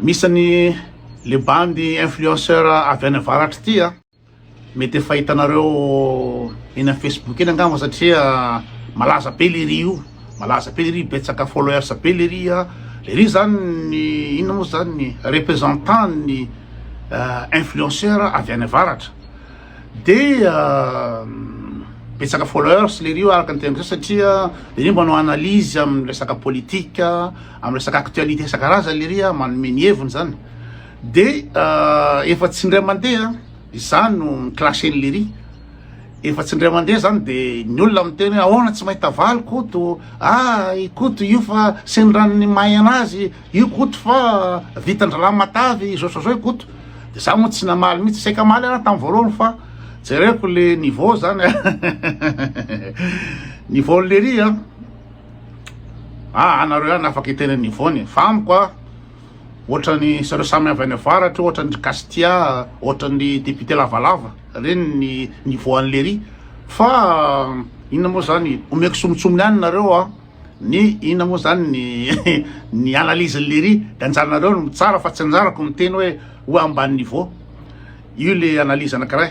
Misy ny le bandy influenceur avy any avaratra ity a, mety efa hitanareo eny amin'ny facebook eny angamba satria malaza be le ry io, malaza be le ry betsaka followers be le ry a, le ry zany ny inona moa zany ny représentant ny influenceur avy any avaratra de betsaka followers le ry io araka ny teniko zay satria le ry manao analyse amin'ny resaka politique. amin'ny resaka actualité isan-karazany lery a, manome ny heviny zany de efa tsy indray mandeha izany no mi-clasher an'i lery efa tsy indray mandeha zany de ny olona miteny hoe ahoana tsy mahita valy koto a i koto io fa sendran'ny mahay anazy io koto fa vitan-drahalahy matavy izao izao izao i koto de za moa tsy namaly mihitsy saika maly ana tamin'ny voalohany fa jereko le niveau zany a niveau lery a ah anareo ihany afaka hiteny an'i Yvonne fa amiko ah ohatran'ny zareo samy avy any avaratra ohatran'ny ry Castia ohatran'ny député lavalava reny ny niveau an'i Lery fa inona moa zany omeko somotsomony any nareo ah ny inona moa zany ny ny analyse an'i Lery de anjaranareo no mitsara fa tsy anjarako miteny hoe ho amban'ny niveau io le analyse anakiray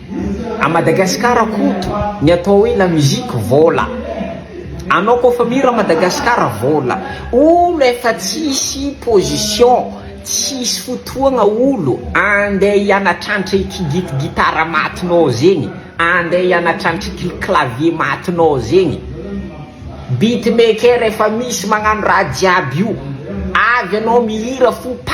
A Madagascar Koto ny atao hoe la musique vola Anao ko fa mihira Madagascar vola Olo efa tsisy position Tsisy fotoagna olo Andeha hianatrantra ity git gitara matinao zegny Andeha hianatrantra ity clavier matinao zegny Beat maker efa misy magnano raha jiaby io Avy anao mihira fo pa!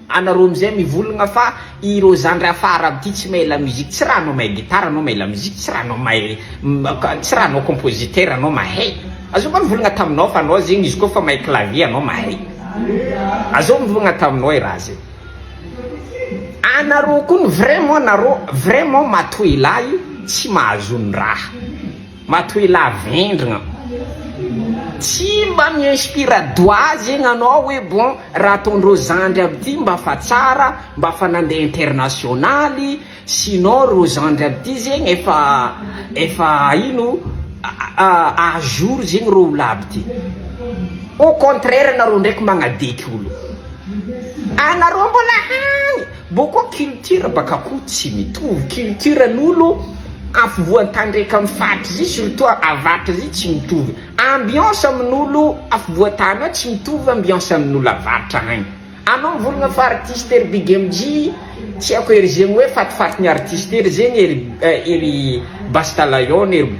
Anareo amizay mivologna fa ireo zandry hafa arabe ty tsy mahay la musique, tsy raha anao mahay guitare anao mahay la musique, tsy raha anao mahay tsy raha anao compositeur anao mahay, azao koa nivolagna taminao fa anao zegny izy koa fa mahay clavier anao mahay, azao mivolagna taminao i raha zay, anareo kony vraiment nareo vraiment matoa elahy tsy mahazo ny raha. Matoila vendrana tsy mba mi inspira doha zegny anao hoe bon raha ataondreo zandry aby ty mba fa tsara mba fa nandeha internationaly sinon reo zandry aby ty zegny efa efa ino a jour zegny reo olo aby ty au contraire anareo ndraiky magnadeiky olo anareo mbola hany Mbô koa culture baka koa tsy mitovy, culture n'olo afovoan-tany raiky amin'ny faritra zay surtout avaritra zay tsy mitovy, ambiance amin'olo afovoan-tany ao tsy mitovy ambiance amin'olo avaritra agny, anao mivolagna fa artiste ery BigMJ tsy haiko ery zegny hoe fatifatin'ny artiste ery zegny ery ery Basta Lion ery.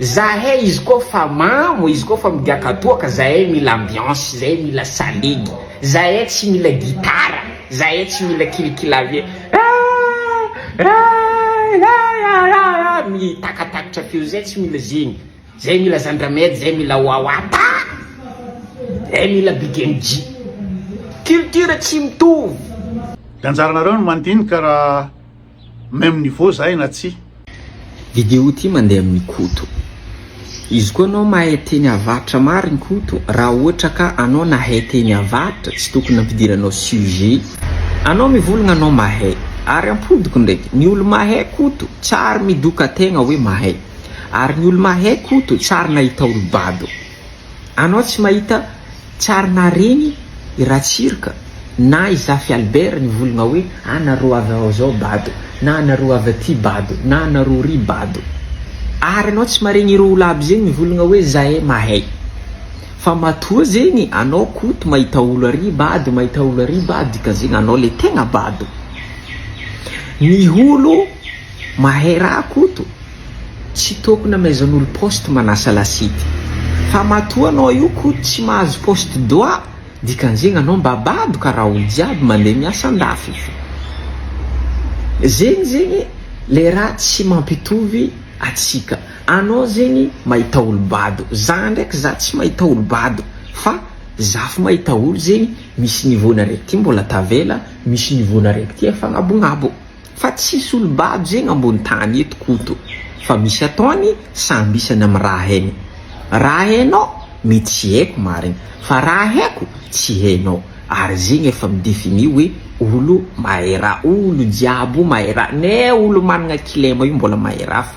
Zahay izy koa fa mamo, izy koa fa migiakatoaka, zahay mila ambiance, zahay mila salegy, zahay tsy mila gitara, zahay tsy mila kilikilavie mitakatakatra feo, zahay tsy mila zegny, zahay mila zandramedy, zahay mila wawata, zahay mila big MJ. Culture tsy mitovy. Ny anjaranareo no mandinika raha Même niveau zahay na tsia. Video ty mandeha amin'i Koto. Izy koa anao mahay teny avaritra marigny Koto raha ohatra ka anao nahay teny avaritra tsy tokony nampidiranao sujet anao mivolagna anao mahay ary ampodiko ndraiky ny olo mahay Koto tsary midoka tegna hoe mahay ary ny olo mahay Koto tsary nahita olo bado Anao tsy mahita tsary nahareny i Ratsiroka na i Zafy Albert nivologna hoe a nareo avy ao zao bado na anareo avy aty bado na anareo ry bado ary anao tsy maregny ireo olo aby zegny mivologna hoe zahay mahay fa matoa zegny anao koto mahita olo ary bado mahita olo ary bado dikanzegny anao le tegna bado ny olo mahay raha koto Tsy tokona maison olo poste manasa lasidy fa matoa anao io ko tsy mahazo poste doa dikanzegny anao mba bado kara olo jiaby mande miasa andafy fo zegny zegny le raha tsy mampitovy atsika anao zegny mahita olo bado za ndraiky za tsy mahita olo bado fa za fo mahita olo zegny misy niveau nareo ty mbola tavela misy niveau nareo ty efa agnabognabo. Fa tsisy olom-bady zegny ambony tany eto Koto fa misy atao any samby isany am raha hainy. Raha hainao mety tsy haiko marigny fa raha haiko tsy hainao ary zegny efa mi définit hoe olo mahay raha olo jiaby io mahay raha ne olo managna kilema io mbola mahay raha fa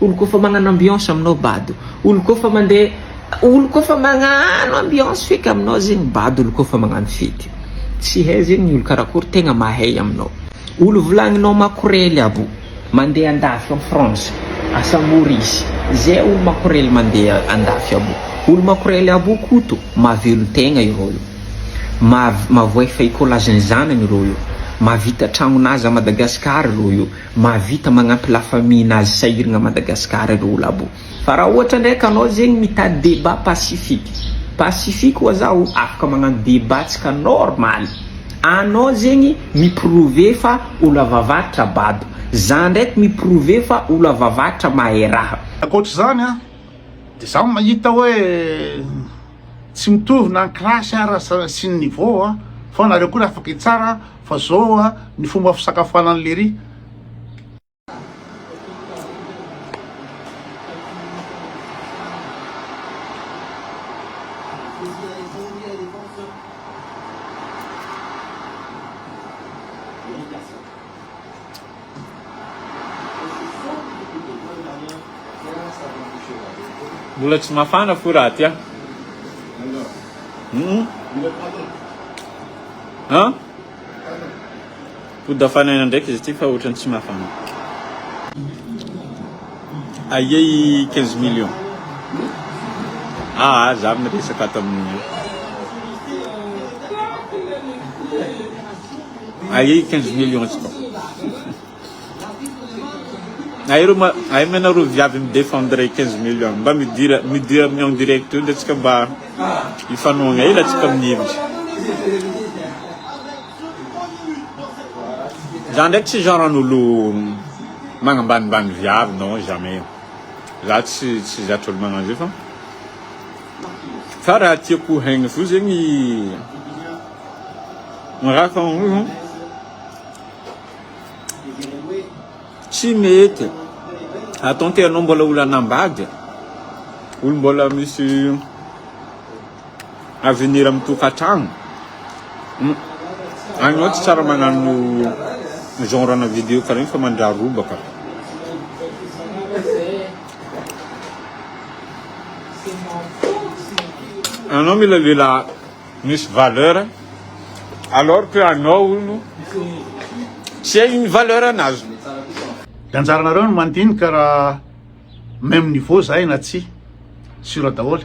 Oloko efa magnano ambiance aminao bado oloko efa mandeha oloko efa magnano ambiance feky aminao zegny bado oloko efa magnano fety tsy hay zegny ny olo karakory tegna mahay aminao olo volagninao makorely abo mandeha andafy en France asa mora izy zay olo makorely mandeha andafy abo olo makorely abo koto mahavelo tegna ireo io mav mavoay fay kolazin'ny zanany ireo io mahavita tragnonazy à Madagascar ireo io Mahavita magnampy la famille nazy sahirgna Madagascar ireo olabo. Fa raha ohatra ndraiky anao zegny mitady debat pacifique. Pacifique oa zaho afaka magnano debat tsika normaly. Anao zegny mi prouver fa olo avavaritra bado. Za ndraiky mi prouver fa olo avavaritra mahay raha. Ankoatr'izany an, dia za mahita hoe. Tsy mitovy na ny classe ara sy ny niveau a, fa anareo koa afaka hitsara fa zao a ny fomba fisakafoanan'i lery. Mbola tsy mafana fo raha aty a. Hmm. Ha? Pody afanaina ndraiky izy ity fa ohatrany tsy mafana. Aia i 15 millions. Ah, za miresaka ato amin'ny Aie 15 millions izy koa. Aero ma aim anareo viavy mi défendre 15 millions mba midira midira amin'ny en direct eo de tsika mba hifanohagna hely atsika amin'ny hevitra. Za ndraiky tsy genre an'olo magnambanimbany viavy non jamais. Za tsy tsy zatra olo magnano zay fa fa raha tiako haigny fo zegny Raha hoe tsy mety ataon'ity ianao mbola olana am-bady, olo mbola misy avenir amin'ny tokantrano, ianao tsy tsara magnano genre ana vidéo karaha io fa mandraha robaka. Ianao mila lehilahy. misy valeur alors que anao hono tsy hay ny valeur anazy. Dia anjaranareo ny mandinika raha même niveau zahay na tsia, sur daholo.